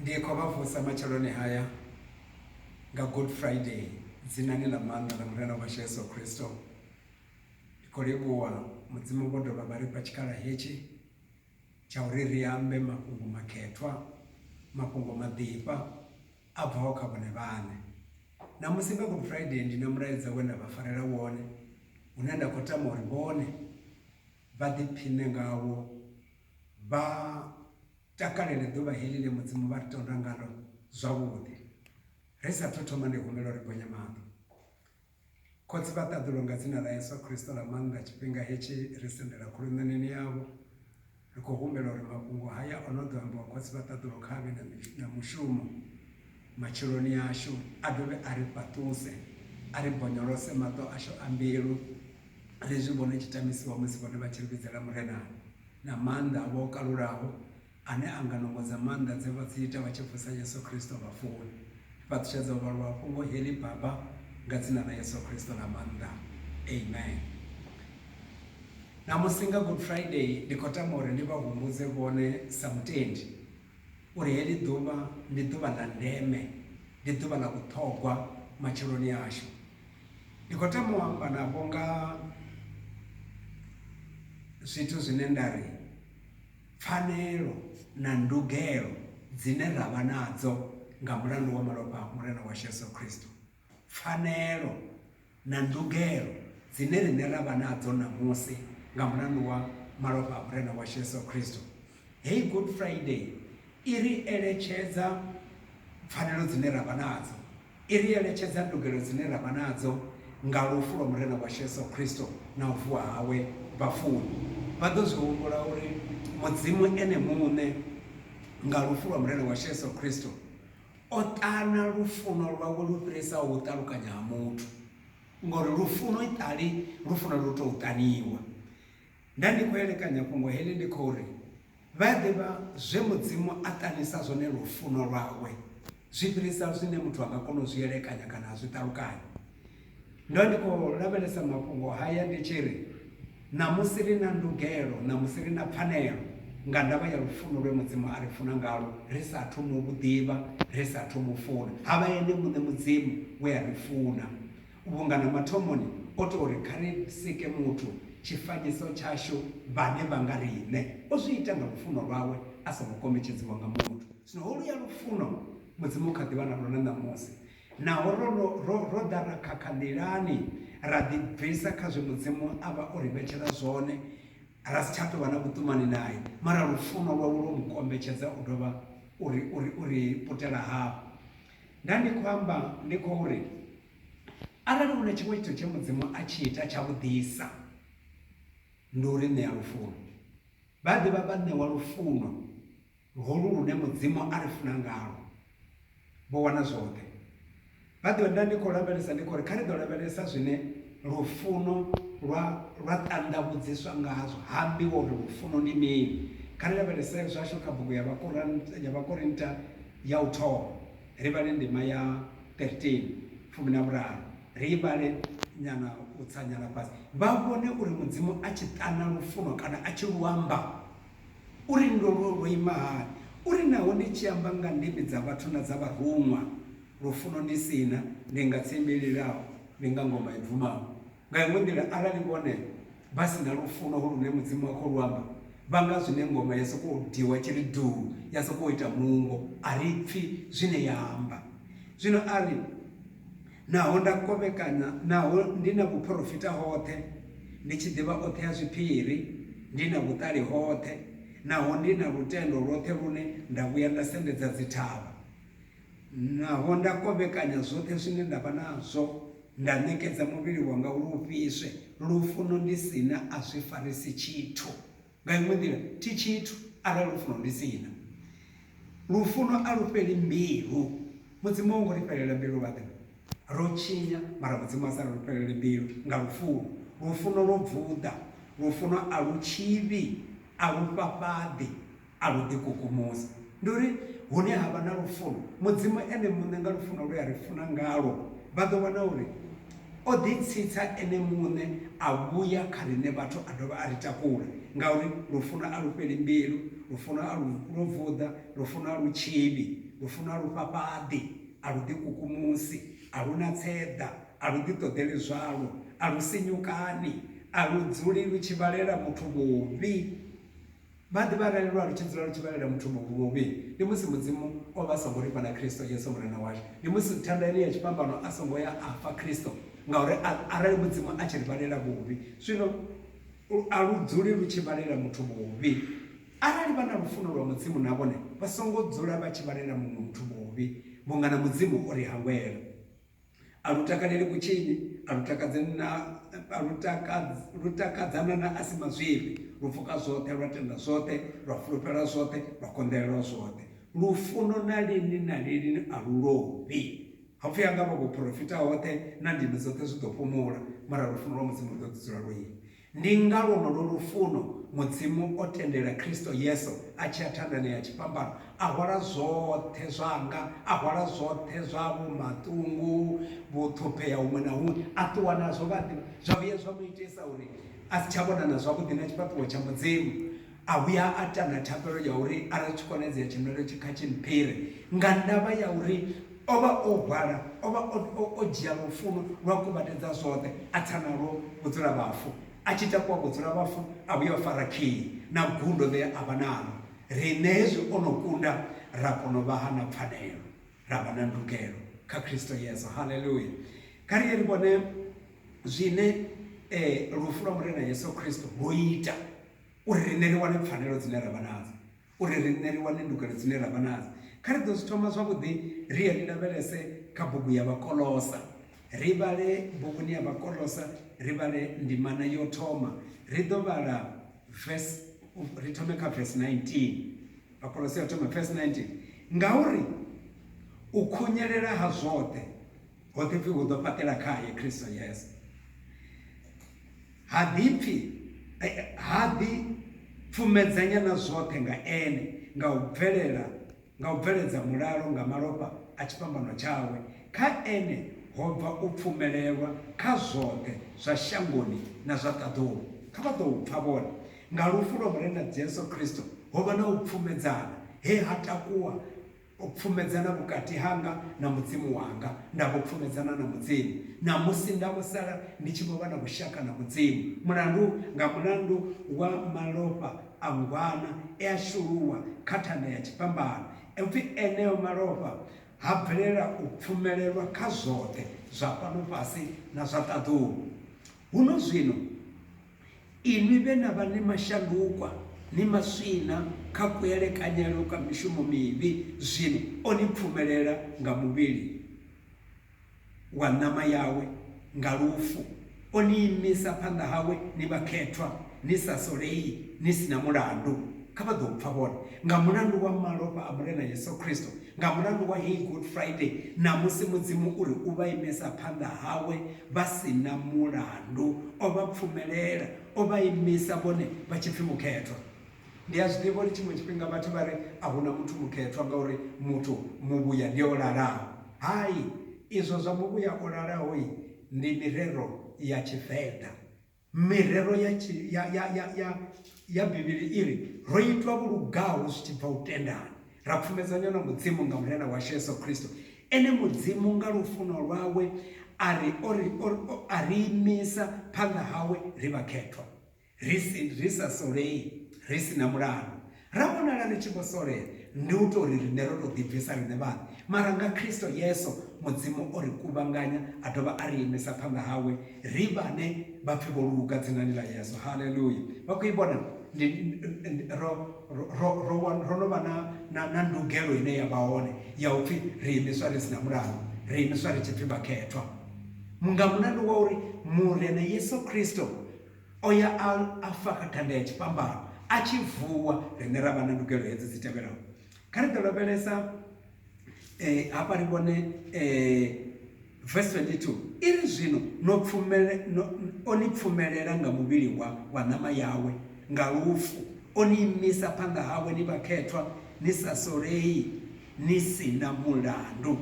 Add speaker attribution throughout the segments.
Speaker 1: Ndi khou vha vusa matsheloni haya nga Good Friday dzinani ḽa maanḓa ḽa Murena washu Yesu Kristo. Ndi khou livhuwa Mudzimu vho dovha vha ri fha tshikhala hetshi tsha uri ri ambe mafhungo makhethwa, mafhungo maḓifha a bvaho kha vhone vhaṋe. Ṋamusi nga Good Friday ndi na mulaedza we nda vha farela wone une nda khou tama uri vhone vha ḓiphiṋe ngawo, vha takalele ḓuvha heḽi ḽe Mudzimu vha ri tonda ngaḽo zwavhuḓi. Ri sa athu thoma ndi humbela uri bonya maḓi. Khotsi vha ṱaḓulo nga dzina ḽa Yesu Kristo ḽa maanḓa tshifhinga hetshi ri sendela khuluṋaneni yavho, ri khou humbela uri mafhungo haya o no ḓo ambiwa Khotsi vha ṱaḓulo kha vhe na mushumo matsheloni ashu, a dovhe a ri fhaṱuse, a ri bonyolose maṱo ashu a mbilu, ri zwi vhone tshi tamisiwa musi vhone vha tshi ri vhidzela Murena na maanḓa avho o kalulaho, ane a nga nungo dza maanḓa dze vha dzi ita vha tshi vusa Yesu Kristo vhafuni. Fhaṱutshedza uvha luhafhungo heḽi, Baba, nga dzina ḽa Yesu Kristo ḽa maanḓa. Amen. Ṋamusi nga Good Friday, ndi khou tama uri ndi vha humbudze vhone sa mutendi. uri heḽi ḓuvha ndi ḓuvha ḽa ndeme, ndi ḓuvha ḽa vhuṱhogwa matsheloni ashu. Ndi khou tama u amba navho nga zwithu zwine nda ri pfanelo na ndugelo dzine ra vha nadzo nga mulandu wa malofha a Murena washu Yesu Kristo. pfanelo na ndugelo dzine riṋe ra vha nadzo ṋamusi nga mulandu wa malofha a Murena washu Yesu Kristo. Heyi Good Friday i ri eletshedza pfanelo dzine ra vha nadzo, i ri eletshedza ndugelo dzine ra vha nadzo nga lufu lwa Murena washu Yesu Kristo na u vuwa hawe vhafuni. Vha ḓo zwi humbula uri Mudzimu ene muṋe nga lufu lwa Murena washu Yesu Kristo, O ṱana lufuno lwawe lu fhirisaho u ṱalukanya ha muthu, ngori lufuno iṱali lufuno lu tou ṱaniwa. Nda ndi khou elekanya fhungo heḽi ndi khou ri, Vha ḓivha zwe Mudzimu a ṱanisa zwone lufuno lwawe zwi fhirisa zwine muthu a nga kona u zwi elekanya kana a zwi ṱalukanya. Ndo ndi khou lavhelesa mafhungo haya ndi tshi ri, Ṋamusi ri na ndugelo, ṋamusi ri na pfanelo nga ndavha ya lufuno lwe Mudzimu a ri funa ngalwo ri sa athu mu vhu ḓivha, ri sa athu mu funa. Ha vha Ene muṋe Mudzimu we a ri funa, vhunga na mathomoni o tou ri kha ri sike muthu tshifanyiso tshashu vhane vha nga riṋe. O zwi ita nga lufuno lwawe a songo kombetshedziwa nga muthu. Zwino holuya lufuno Mudzimu u kha ḓi vha nalwo na ṋamusi. Naho ro, ro, ro, ro ḓa ra khakha nḓilani, ra ḓibvisa kha zwe Mudzimu a vha o ri vhetshela zwone, ra si tsha tou vha na vhuṱumani nae. Mara lufuno lwawe lwo mu kombetshedza u dovha u ri, u ri, u ri putela hafhu. Nda ndi khou amba, ndi khou ri, arali hu na tshiṅwe tshithu tshe Mudzimu a tshi ita tshavhuḓisa, ndi u ri ṋea lufuno. Vha ḓi vha vhaṋewa lufuno. Luhulu lune Mudzimu a ri funa ngalwo, vho wana zwoṱhe. Vha ḓo enda ndi khou lavhelesa ndi khou ri, Kha ri ḓo lavhelesa zwine lufuno lwa lwa ṱanḓavhudziswa ngazwo. Ha ambiwa uri lufuno ndi mini. Kha ri lavhelese zwashu kha bugu ya Vhakoran ya Vhakorinta ya u thoma, ri vhale ndima ya 13, fumi na vhuraru. Ri i vhale nyana u tsa nyana fhasi, vha vhone uri Mudzimu a tshi ṱana lufuno kana a tshi lu amba. Uri ndwolwo lwo ima hani? Uri naho ndi tshi amba nga ndimi dza vhathu na dza vharuṅwa, lufuno ndi si na, ndi nga tsimbi i lilaho, ndi nga ngoma i bvumaho. Nga iṅwe nḓila, arali vhone vha si na lufuno holu lune Mudzimu a khou lu amba, vha nga zwi ne ngoma ya sokou diwa tshi ri duu, ya sokou ita nungo, a ri pfi zwine ya amba. Zwino a ri. Naho nda kovhekanya, naho ndi na vhuphorofita hoṱhe, ndi tshi ḓivha oṱhe a zwiphiri, ndi na vhuṱali hoṱhe, naho ndi na lutendo lwoṱhe lune nda vhuya nda sendedza dzithavha, naho nda kovhekanya zwoṱhe zwine nda vha nazwo, nda ṋekedza muvhili wanga uri u fhiswe, lufuno ndi si na a zwi farisi tshithu. Nga iṅwe nḓila, thi tshithu arali lufuno ndi si na. Lufuno a lu fheli mbilu. Mudzimu a ho ngo ri fhelela mbilu vhaḓe. Ro tshinya, mara Mudzimu a sa ri ri fhelele mbilu nga lufuno. Lufuno lwo vuḓa. Lufuno a lu tshivhi, a lu fhafhaḓi, a lu ḓikukumusi. Ndi uri hune ha vha na lufuno, Mudzimu Ene muṋe nga lufuno lwe a ri funa ngalwo, vha ḓo wana uri. o ḓitsitsa ene muṋe a vhuya kha riṋe vhathu a dovha a ri takula, ngauri lufuno a lu fheli mbilu, lufuno a lu lu vuḓa, lufuno a lu tshinyi, lufuno a lu fhafhaḓi, a lu ḓikukumusi, a lu na tseḓa, a lu ḓiṱoḓeli zwalwo, a lu sinyukani, a lu dzuli lu tshi vhalela muthu vhuvhi. Vha ḓivha arali lwa lu tshi dzula lu tshi vhalela muthu muṅwe vhuvhi, ndi musi Mudzimu o vha a songo ri fha na Kristo Yesu Murena washu. Ndi musi thanda ine ya tshifhambano a songo ya a fa Kristo, ngauri a, arali Mudzimu a tshi ri vhalela vhuvhi, zwino a lu dzuli lu tshi vhalela muthu vhuvhi. Arali vha na lufuno lwa Mudzimu na vhone vha songo dzula vha tshi vhalela muṅwe muthu vhuvhi, vhunga na Mudzimu o ri hangwela. A lu takaleli vhutshinyi, a lu takadzi na a lu takadzi lu takadzana na a si mazwifhi, lu pfuka zwoṱhe, lwa tenda zwoṱhe, lwa fulufhela zwoṱhe, lwa konḓelela zwoṱhe. Lufuno na lini na lini a lu lovhi. Ho pfi ha nga vha vhuporofita hoṱhe na ndimi dzoṱhe zwi ḓo fhumula, mara lufuno lwa Mudzimu lu ḓo ḓi dzula lwo ima. Ndi nga lwonolwo lufuno Mudzimu o tendela Kristo Yesu a tshi ya thandani ya tshifhambano, a hwala zwoṱhe zwanga, a hwala zwoṱhe zwa vho maṱungu, vhuṱhuphea huṅwe na huṅwe, a ṱuwa nazwo. Vha a ḓivha? Zwa vhuya zwa mu itisa uri a si tsha vhonana zwavhuḓi na tshifhaṱuwo tsha Mudzimu. a vhuya a ta na thapelo ya uri arali tshi konadzea tshimelelo tshi kha tshi mphire nga ndavha ya uri o vha o hwala o vha o dzhia lufuno lwa kuvhatedza zwoṱhe a tsa nalwo vhudzula vhafu a tshi takuwa vhudzula vhafu a vhuya o fara khiyi na gundo ḽe a vha nalo riṋe hezwi o no kunda ra kona u vha ha na pfanelo ra vha na ndugelo kha kristo yesu haleluya kha ri ye ri vhone zwine um lufu lwa murena yesu kristo lwo ita Uri riṋe ri wane pfanelo dzine ra vha nadzo, uri riṋe ri wane ndugelo dzine ra vha nadzo, kha ri ḓo zwi thoma zwavhuḓi ri ye ri lavhelese kha bugu ya Vhakolosa. Ri vhale buguni ya Vhakolosa, ri vhale ndimana yo thoma. Ri ḓo vhala verse, ri thome kha verse 19. Vhakolosa ya u thoma verse 19. Ngauri u khunyelela ha zwoṱhe ho ḓi pfi hu ḓo fhaṱela khae Kristo Yesu. Ha ḓipfi e, ha ḓi pfumedzanya na zwoṱhe nga Ene nga u bvelela, nga u bveledza mulalo nga malofha a tshifhambano tshawe. Kha Ene ho bva u pfumelelwa kha zwoṱhe zwa shangoni na zwa ṱaḓulu. Kha vha ḓou pfa vhone. Nga lufu lwa Murena Jesu Kristo ho vha na u pfumedzana he ha takuwa U pfumedzana vhukati hanga na Mudzimu wanga, nda vho pfumedzana na Mudzimu, ṋamusi nda vho sala ndi tshi vho vha na vhushaka na Mudzimu, mulandu nga mulandu wa malofha a ngwana e a shuluwa kha thanda ya tshifhambano, e pfi eneo malofha ha bvelela u pfumelelwa kha zwoṱhe zwa fhano fhasi na zwa ṱaḓulu. Huno zwino. Inwi vhe na vha ni mashandukwa, ni maswina kha kuelekanyelwe kwa mishumo mivhi, zwino o ni pfumelela nga muvhili wa ṋama yawe nga lufu, o ni imisa phanḓa hawe ni vhakhethwa, ni sa solei, ni si na mulandu. Kha vha ḓo pfa vhone, nga mulandu wa malofha a Murena Yesu Kristo, Nga mulandu wa heyi Good Friday, ṋamusi Mudzimu u ri u vha imesa phanḓa hawe vha si na mulandu. O vha pfumelela, o vha imisa vhone vha tshi pfi mukhethwa. Ndi a zwi ḓivha uri tshiṅwe tshifhinga vhathu vha ri a hu na muthu mukhethwa ngauri muthu muvhuya ndi o lalaho. Hai, izwo zwa muvhuya o lalaho-i ndi mirero ya Tshivenḓa. Mirero ya Bivhili i ri, Ro itwa vho lugaho zwi tshi bva u tendani, ra pfumedzanywa na Mudzimu nga Murena washu Yesu Kristo. Ene Mudzimu nga lufuno lwawe a ri a ri imisa phanḓa hawe ri vhakhethwa, ri sa solei, ri si na mulandu, Ra vhonala ri tshi vho solea, ndi u tou ri riṋe ro tou ḓibvisa riṋe vhaṋe. Mara nga Kristo Yesu, Mudzimu o ri kuvhanganya a dovha a ri imisa phanḓa hawe, ri vhane vha pfi vho luga dzinani ḽa Yesu. Haleluya! Vha khou i vhona? Ndi, ndi, ro, ro, ro, ro, wa, ro no vha na, na, na ndugelo ine ya vha hone ya u pfi ri imiswa ri si na mulandu, ri imiswa ri tshi pfi vhakhethwa. Nga mulandu wa uri Murena Yesu Kristo, O ya a a fa kha thanda ya tshifhambano, a tshi vuwa, riṋe ra vha na ndugelo hedzi dzi tevhelaho. Kha ri ḓo lavhelesa hafha ri vhone verse 22 i ri, Zwino no pfumele, no, o ni pfumelela nga muvhili wa, wa ṋama yawe, nga lufu, o ni imisa phanḓa hawe ni vhakhethwa, ni sa solei, ni si na mulandu.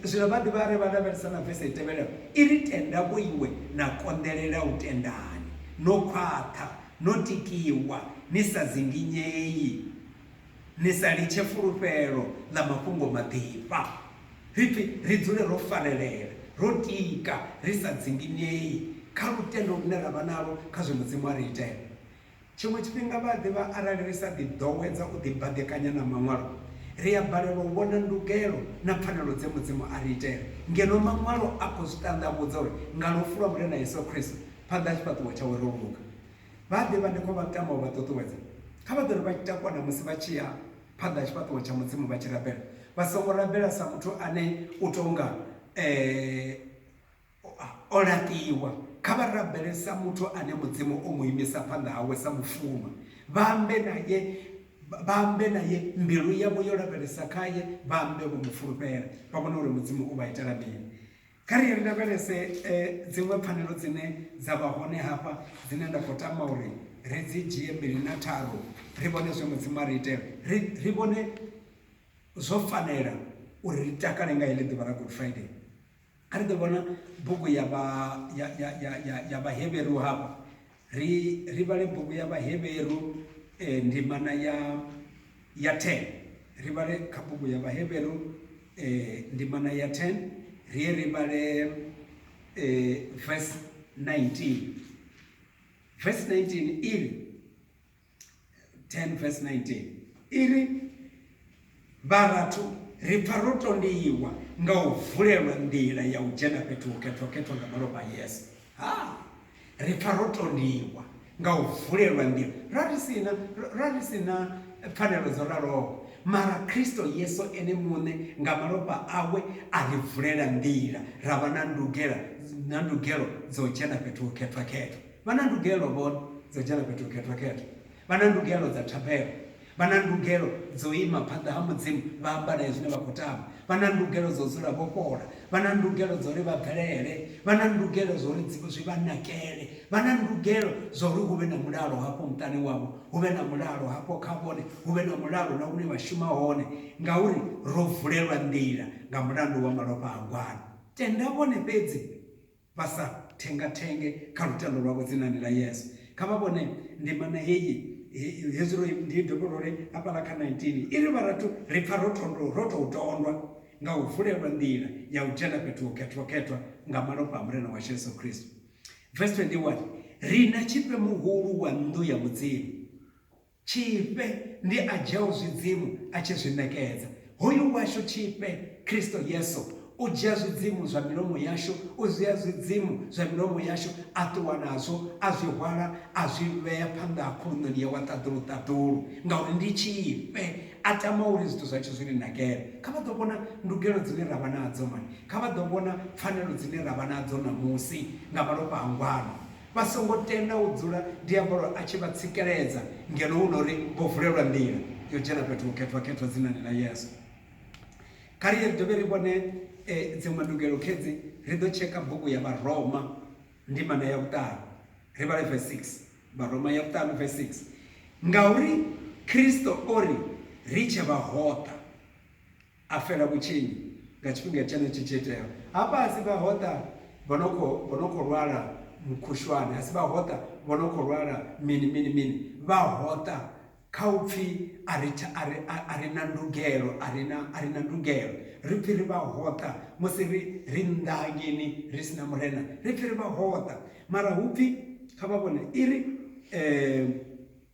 Speaker 1: Zwino vha dovha vha ri, Vha lavhelesa na vese i tevhelaho i ri, Tenda vhoiwe na konḓelela u tendani, no khwaṱha, no tikiwa, ni sa dzinginyei, ni sa litshe fulufhelo ḽa mafhungo maḓifha. Ri pfi ri dzule ro farelela, ro tika, ri sa dzinginyei kha lutendo lune ra vha nalwo kha zwe Mudzimu a ri itela. Tshiṅwe tshifhinga vha a ḓivha arali ri sa ḓiḓowedza u ḓibaḓekanya na Maṅwalo, ri a balelwa u vhona ndugelo na pfanelo dze Mudzimu a ri itela, ngeno Maṅwalo a khou zwi ṱanḓavhudza uri nga lufu lwa Murena Yesu Kristo, phanḓa ha tshifhaṱuwo tshawe ro luga. Vha a ḓivha ndi khou vha tama u vha ṱuṱuwedza, kha vha dzule vha tshi takuwa na musi vha tshi ya phanḓa ha tshifhaṱuwo tsha Mudzimu vha tshi rabela, vha songo rabela sa muthu ane u tou nga e. O laṱiwa. Kha vha rabele sa muthu ane Mudzimu o mu imisa phanḓa hawe sa mushumwa. Vha ambe nae, vha ambe nae, mbilu yavho yo lavhelesa khae, vha ambe vho mu fulufhela, vha vhone uri Mudzimu u vha itela mini. Kha ri ri lavhelese dziṅwe pfanelo dzine dza vha hone hafha, dzine nda khou tama uri ri dzi dzhie mbili na tharu, ri vhone zwe Mudzimu a ri itela, ri, ri vhone zwo fanela uri ri takale nga heḽi ḓuvha ḽa Good Friday. A ri ḓo vhala bugu ya vha ya ya ya ya ya vhaheveru hafha ri ri vhale bugu ya vhaheveru eh, ndimana ya ya 10 ri vhale kha bugu ya vhaheveru eh, ndimana ya 10 ri ye ri vhale eh, verse 19 verse 19 iri 10 verse 19 i ri vharathu ri pfa ro tondiwa nga u vulelwa nḓila ya u dzhena fhethu ho khethwakhethwa nga malofha a yesu ha ri pfa ro tondiwa nga u vulelwa nḓila ra ri sina ra ri sina pfanelo dzo raloho mara kristo yesu ene muṋe nga malofha awe a ri vulela nḓila ra vha na ndugela na ndugelo dzo dzhena fhethu ho khethwakhethwa Vha na ndugelo vho dza dzhena fhethu khethwa-khethwa, vha na ndugelo dza thabelo, vha na ndugelo dzo ima phanḓa ha Mudzimu vha amba nae zwine vha khou tama, vha na ndugelo dzo dzula vho fhola, vha na ndugelo dzo ri vha bvelele, vha na ndugelo zwo ri zwi vha nakele, vha na ndugelo zwo ri hu vhe na mulalo hafho muṱani wavho, hu vhe na mulalo hafho kha vhone, hu vhe na mulalo na hune vha shuma hone, ngauri ro vulelwa nḓila nga mulandu wa malofha a gwanu. Tenda vhone fhedzi Vha sa thengathenge kha lutendo lwavho dzinani ḽa Yesu. Kha vha vhone ndimana heyi, hezwi ro i dovha ro ri hafhaḽa kha 19 i ri, Vharathu, ri pfa ro thondo, ro tou tondwa nga u vulelwa nḓila ya u dzhena fhethu ho khethwa-khethwa nga malofha a Murena washu Yesu Kristo. Verse 21, Ri na Tshifhe Muhulu wa nnḓu ya Mudzimu. Tshifhe ndi a dzhiaho zwidzimu a tshi zwi ṋekedza. Hoyu washu Tshifhe, Kristo Yesu, u dzhia zwidzimu zwa milomo yashu, u dzhia zwidzimu zwa milomo yashu a ṱuwa nazwo, a zwi hwala a zwi vhea phanḓa ha khuluṋoni yawe a ṱaḓulu-ṱaḓulu, ngauri ndi Tshifhe, a tama uri zwithu zwa tshi zwi ri nakele. Kha vha ḓo vhona ndugelo dzine ra vha nadzo mani! Kha vha ḓo vhona pfanelo dzine ra vha nadzo ṋamusi nga malofha a ngwano. Vha songo tenda u dzula diabolo a tshi vha tsikeledza ngeno hu na uri vho vulelwa nḓila yo dzhena fhethu hukhethwa-khethwa dzinani ḽa Yesu. Kha ri ye ri dovhe ri vhone dziṅwe ndugelo khedzi. Ri ḓo tsheka bugu ya Vharoma ndimana ya vhuṱanu, ri vhale vese 6. Vharoma ya vhuṱanu vese 6, Ngauri Kristo o ri, Ri tshe vhahoṱa. a fela vhutshinyi nga tshifhinga tshenetshi tshi iteaho. Hafha a si vhahoṱa vho no khou, vho no khou lwala mukhushwane, a si vhahoṱa vho no khou lwala mini, mini, mini. Vhahoṱa kha u pfi a ri, a ri, a ri na ndugelo, a ri na, a ri na ndugelo. Ri pfi ri vhahoṱa musi ri, ri nnḓa hangeini ri si na Murena. Ri pfi ri vhahoṱa, mara hu pfi, kha vha vhone, i ri,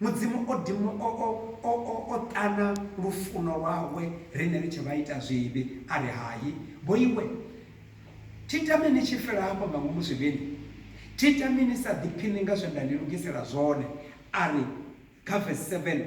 Speaker 1: Mudzimu o dimu o o o o o ṱana lufuno lwawe riṋe ri tshe vhaitazwivhi, a ri, Hai, vhoiwe, thi tami ni tshi fela hafha nga ngomu zwivhini, thi tami ni sa ḓiphiṋi nga zwe nda ni lugisela zwone. A ri, kha vesi 7,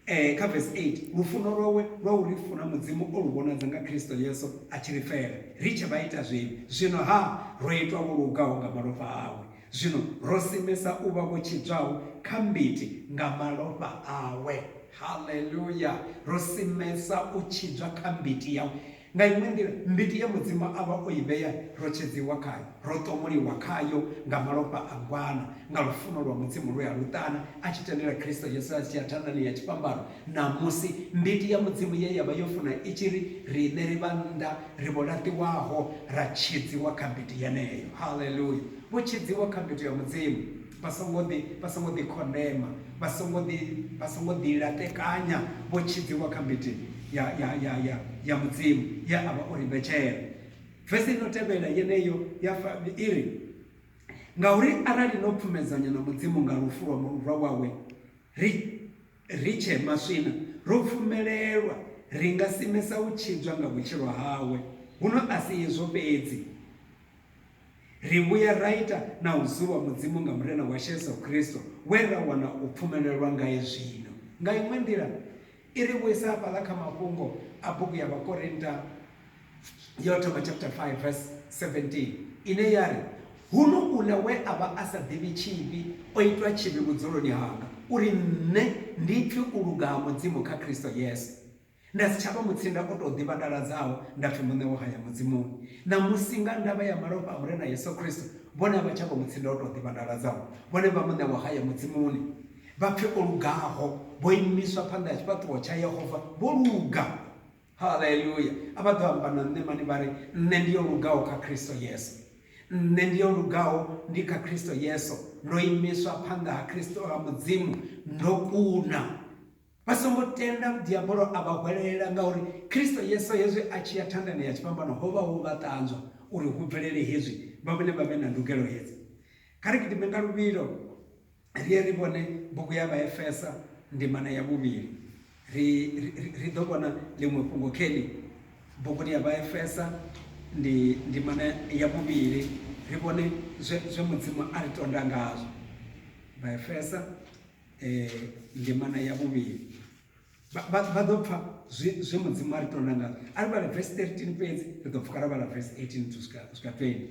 Speaker 1: eh, kha vesi 8, Lufuno lwawe lwa u ri funa Mudzimu o lu vhonadza nga Kristo Yesu a tshi ri fela ri tshe vhaitazwivhi, zwino-ha ro itwa vho lugaho nga malofha awe. Zwino ro simesa u vha vho tshidzwaho kha mbiti nga malofha awe. Haleluya! Ro simesa u tshidzwa kha mbiti yawe. Nga iṅwe nḓila, mbiti ye Mudzimu a vha o i vhea ro tshedziwa khayo. Ro ṱomuliwa khayo nga malofha a ngwana, nga lufuno lwa Mudzimu lwe a lu ṱana a tshi tendela Kristo Yesu a tshi ya thandani ya tshifhambano, Ṋamusi, mbiti ya Mudzimu ye ya vha yo funa i tshi ri, Riṋe ri vha nnḓa, ri vho laṱiwaho, ra tshidziwa kha mbiti yeneyo. Haleluya! Vho tshidziwa kha mbiti ya Mudzimu. Vha songo ḓi, vha songo ḓi khondema, vha songo ḓi, vha songo ḓi laṱekanya, vho tshidziwa kha mbiti ya, ya, ya, ya, ya Mudzimu ye a vha o ri vhetshela. Vesi ino tevhela yeneyo ya fa, i ri, Ngauri arali no pfumedzanya na Mudzimu nga lufu lwa, lwa wawe, ri Ri tshee maswina, ro pfumelelwa, ri nga simesa u tshidzwa nga vhutshilo hawe. Huno a si izwo fhedzi, ri vhuya ra ita na u zuwa Mudzimu nga Murena washu Yesu Kristo, we ra wana u pfumelelwa ngae zwino. Nga iṅwe nḓila, i ri vhuisa hafhaḽa kha mafhungo a bugu ya Vhakorinta. Yo thoma chapter 5 verse 17 ine ya ri huno uḽa we a vha a sa ḓivhi tshivhi o itwa tshivhi vhudzuloni hanga uri nṋe ndi pfe u luga ha Mudzimu kha Kristo Yesu nda si tsha vha mutsinda o tou ḓivhandaladzaho nda pfi muṋe wo haya Mudzimuni ṋamusi nga ndavha ya malofha a Murena Yesu Kristo vhone a vha tsha vha mutsinda o tou ḓivhandaladzaho vhone vha muṋe wo haya Mudzimuni vha pfe o lugaho vho imiswa phanḓa ha tshifhaṱuwo tsha Yehova vho luga Haleluya! A vha ḓo amba na nṋe mani vha ri, Nṋe ndi yo lugaho kha Kristo Yesu. Nṋe ndi yo lugaho ndi kha Kristo Yesu, ndo imiswa phanḓa ha Kristo ha Mudzimu, ndo kuna. Vha songo tenda diabolo a vha hwelelela ngauri Kristo Yesu hezwi a tshi ya thandani ya tshifhambano ho vha ho vha ṱanzwa uri hu bvelele hezwi vha vhone vha vhe na ndugelo hedzi. Kha ri gidime nga luvhilo Ri ye ri vhone bugu ya Vhaefesa ndimana ya vhuvhili. Ri, ri, ri ḓo vhona ḽiṅwe fhungo kheli buguni ya Vhaefesa ndi ndimana ya vhuvhili, ri vhone zwe, zwe Mudzimu a ri tonda ngazwo. Vhaefesa eh, ndimana ya vhuvhili vha ḓo pfa zwe mudzimu a ri tonda ngazwo a ri vhala vesi 13 fhedzi ri ḓo pfuka ra vhala vesi 18 to swika 20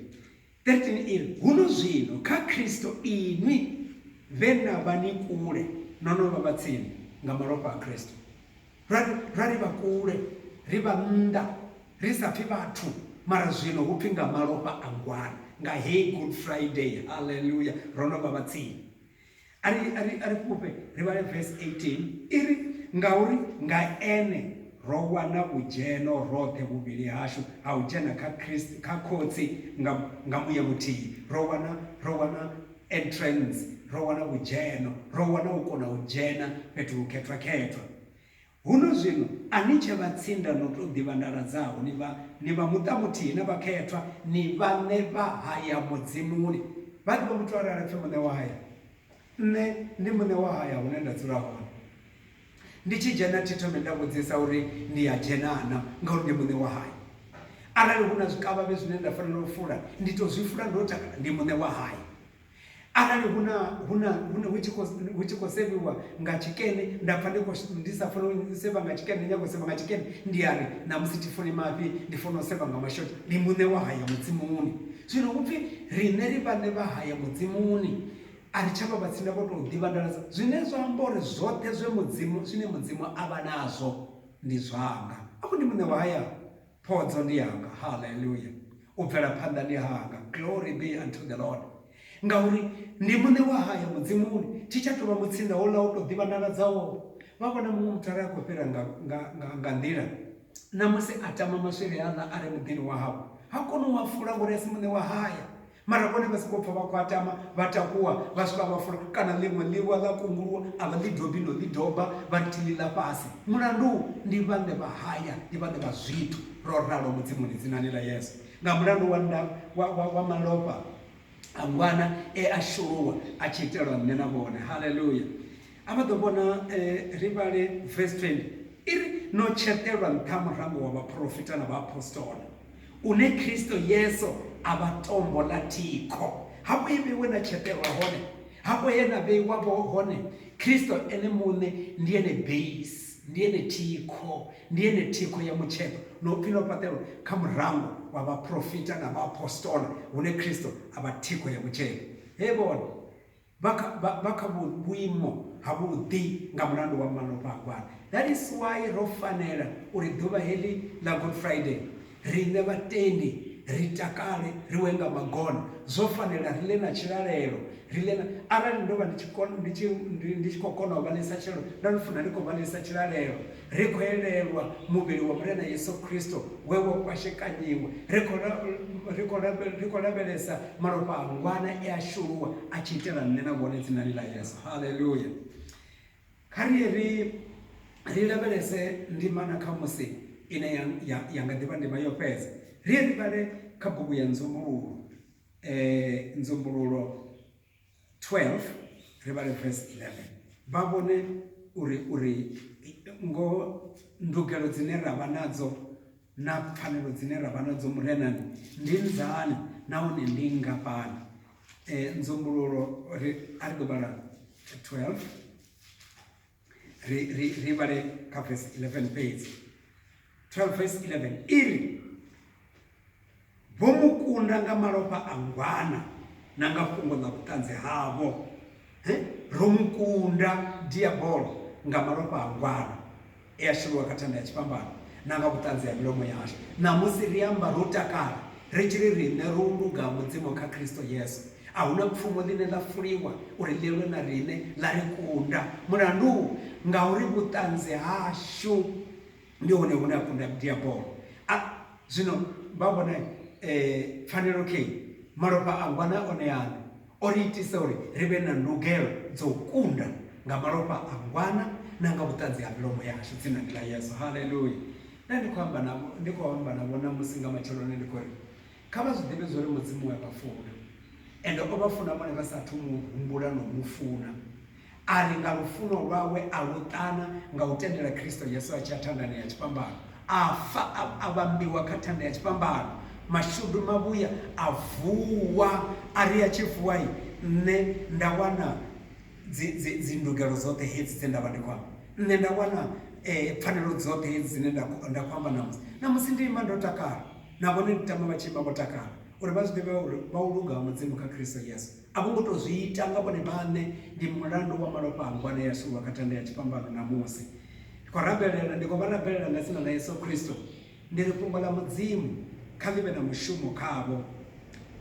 Speaker 1: 13 iri, Huno zwino, kha Kristo, inwi vhe na vha ni kule no no vha vha tsini nga malofha a Kristo. Ra ri, ra ri vha kule, ri vha nnḓa, ri sa pfi vhathu, mara zwino hu pfi nga malofha a Ngwani, nga heyi Good Friday, haleluya, ro no vha vha tsini. a ri a ri a ri fhufhe ri vhale verse 18 i ri ngauri nga ene ro wana vhudzheno roṱhe vhuvhili hashu ha u dzhena kha Christ kha khotsi nga nga muya muthihi ro wana ro wana entrance ro wana vhudzheno ro wana u kona u dzhena fhethu hukhethwa khethwa Huno zwino a ni tshe vhatsinda no tou ḓivha ndala dzaho, ni vha ni vha muṱa muthihi na vhakhethwa, ni vhaṋe vha haya Mudzimuni. Vha ḓivha muthu arali a pfi muṋe wa haya? Nṋe ndi muṋe wa haya hune nda dzula hone. Ndi tshi dzhena thi thomi nda vhudzisa uri ndi a dzhena na, ngauri ndi muṋe wa haya. Arali hu na zwikavhavhe zwine nda fanela u fula, ndi tou zwi fula ndo takala, ndi muṋe wa haya. arali hu na hu na hune hu tshi khou hu tshi khou sevhiwa nga tshikene nda pfha ndi kho ndi sa funi u sevha nga tshikene ndi nyaga u sevha nga tshikene ndi ya ri ṋamusi thi funi mafhi ndi funa u sevha nga mashonzha ndi muṋe wa haya mudzi-muni zwino hupfi riṋe ri vhaṋe vha haya mudzi-muni a ri tshavha vha tsini na vho tou ḓivha nḓala dza zwine zwa amba uri zwoṱhe zwe mudzimu zwine mudzimu a vha nazwo ndi zwanga afho ndi muṋe wa haya Phodzo ndi yanga, Haleluya! U bvela phanḓa ndi hanga, Glory be unto the Lord! Ngauri ndi Muṋe wa haya Mudzimuni, thi tsha tou vha mutsinda houḽa wo tou ḓivhanḓaladzaho. Vha vhona muṅwe muthu a re a khou fhira nga, nga, nga, nga nḓila, ṋamusi a tama maswiri aḽa a re muḓini wahawe, ha koni u a fula ngauri a si muṋe wa haya. Mara vhone vha sokou pfa vha khwaṱama, vha takuwa, vha swika vha fula kana ḽiṅwe ḽiwa ḽa kunguluwa, a vha ḽi dobi no ḽi doba, vha ri thi ḽi ḽa fhasi. Mulandu ndi vhaṋe vha haya, ndi vhaṋe vha zwithu, ro ralo Mudzimuni dzinani ḽa Yesu. Nga mulandu wa nda, wa, wa, wa malofha a Ngwana e a shuluwa a tshi itelwa nṋe na vhone. Haleluya! A vha ḓo vhona, ri vhale vesi 20, i ri, No tsheṱelwa nṱha murango wa vhaporofita na vhaapostola, une Kristo Yesu a vha tombo ḽa thikho. Hafho he vheiwe na tsheṱelwa hone, hafho he na vheiwa vho hone, Kristo Ene muṋe ndi ene beisi, ndi ene thikho, ndi ene thikho ya mutsheṱo, na u pfi no fhaṱelwa kha murango wa vhaporofita na vhaapostola, hune Kristo a vha thikho ya mutsheṱo. Hevhone! Vha kha, vha, vha kha vhuimo havhuḓi nga mulandu wa malofha a Gwala. That is why ro fanela uri ḓuvha heḽi ḽa Good Friday, riṋe vhatendi ri takale, ri we nga magona. Zwo fanela, ri ḽe na tshilalelo, ri ḽe na. Arali ndo vha ndi tshi, ndi tshi, ndi tshi khou kona u vha ḽisa tshilalelo, ndo no funa ndi khou vha ḽisa tshilalelo. Ri khou elelwa muvhili wa Murena Yesu Kristo we wa kwashekanyiwa. Ri khou la, ri khou la, ri khou lavhelesa malofha a ngwana e a shuluwa a tshi itela nṋe na vhone dzinani ḽa Yesu. Haleluya. Kha ri ri ri lavhelese ndimana kha musi ine ya, ya, ya nga ḓivha ndima yo fhedza. Ri ri vhale kha bugu ya Nzumbululo. Eh, Nzumbululo 12 ri vhale verse 11 vha vhone uri uri ngoho ndugelo dzine ra vha nadzo na pfanelo dzine ra vha nadzo murenani ndi nzani nahone ndi ngafhani um nzumbululo a ri ḓo vhala 12 ri ri ri vhale kha verse 11 fhedzi 12 verse 11 iri vho mu kunda nga malofha a ngwana na nga fhungo ḽa vhuṱanzi havho ro mu kunda diabolo nga malofha a ngwana e a sheliwa kha thanda ya tshifhambano na nga vhuṱanzi ha milomo yashu ṋamusi ri amba ro takala ri tshi ri riṋe ro luga mudzimu kha kristo yesu A hu na pfumo ḽine ḽa fuliwa uri ḽi lwe na riṋe ḽa ri kunda. Mulandu? Ngauri vhuṱanzi hashu ndi hone hune ha kunda Diabolo. A zwino vha vhona pfanelo kheyi, malofha a ngwana one aṋe o ri itisa uri ri vhe na ndugelo dza u kunda nga malofha a ngwana na nga vhuṱanzi ha milomo yashu, dzinani ḽa Yesu. Haleluya! Nda ndi khou amba navho, ndi khou amba navho ṋamusi nga matsheloni ndi khou ri, Kha vha zwi ḓivhe zwa uri Mudzimu u a vha funa, ende o vha funa vhone vha sa athu u mu humbula na u mu funa. A ri nga lufuno lwawe a lu ṱana nga u tendela Kristo Yesu a tshi ya thandani ya tshifhambano, a fa, a, a vhambiwa kha thanda ya tshifhambano, mashudu mavhuya a vuwa. A ri a tshi vuwa-i, nṋe nda wana dzi, dzi, dzi ndugelo dzoṱhe hedzi dze nda vha ndi khou amba. Nṋe nda wana eh, pfanelo dzoṱhe hedzi dzine nda, nda khou amba ṋamusi. Ṋamusi ndi ima ndo takala. nahone ndi tama vha tshi vha vho takala uri vha zwi ḓivhe uri vha u luga ha mudzimu kha kristo yesu a vho ngo tou zwi ita nga vhone vhaṋe ndi mulandu wa malofha a ngwana ya suwa kha thanda ya tshifhambano na musi ndi khou rabelela ndi khou vha rabelela nga dzina ḽa yesu kristo ndi ri fhungo ḽa mudzimu kha ḽi vhe na mushumo khavho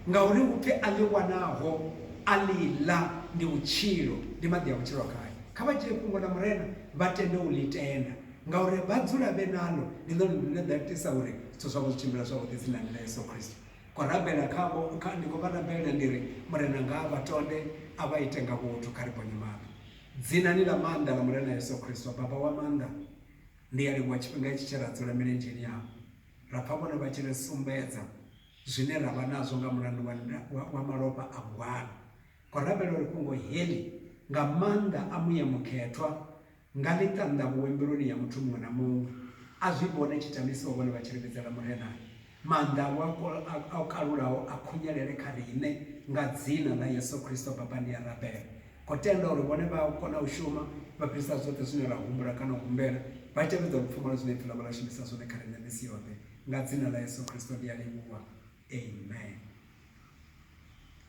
Speaker 1: ngauri upfi a ḽi wanaho a ḽi ḽa ndi vhutshilo ndi maḓi a vhutshilo khayo kha vha dzhie fhungo ḽa murena vha tende u ḽi tenda Ngauri vha dzula vhe naḽo, ndi ḽone ḽine ḽa itisa uri zwithu zwavho zwi tshimbila zwavhuḓi dzinani ḽa Yesu Kristo. Khou rabela khavho, kha ndi khou vha rabela ndi ri, Murena nga a vha tonde, a vha ite nga vhuthu, kha ri ponye maṱo Dzinani ḽa maanḓa ḽa Murena Yesu Kristo, Baba wa maanḓa. Ndi a livhuwa tshifhinga itshi tshe ra dzula milenzheni yavho, ra pfa vhone vha tshi ri sumbedza zwine ra vha nazwo nga mulandu wa, wa, wa malofha a gwanu. Khou rabela uri fhungo heḽi nga maanḓa a Muya Mukhethwa Nga ḽi ṱanḓavhuwe mbiluni ya muthu muṅwe na muṅwe, a zwi vhone tshitamisiwa vhone vha tshi limedzela Murena. Maanḓa awe a o kalulaho a khunyelele kha riṋe nga dzina ḽa Yesu Kristo. Baba, ndi a rabela ngo tenda uri vhone vha a kona u shuma vha fhirisa zwoṱhe zwine ra humbula kana u humbela, vha tevhedza lupfumo lwa zwine Ipfi ḽavho ḽa shumisa zwone kha riṋe misi yoṱhe. Nga dzina ḽa Yesu Kristo ndi a livhuwa. Amen.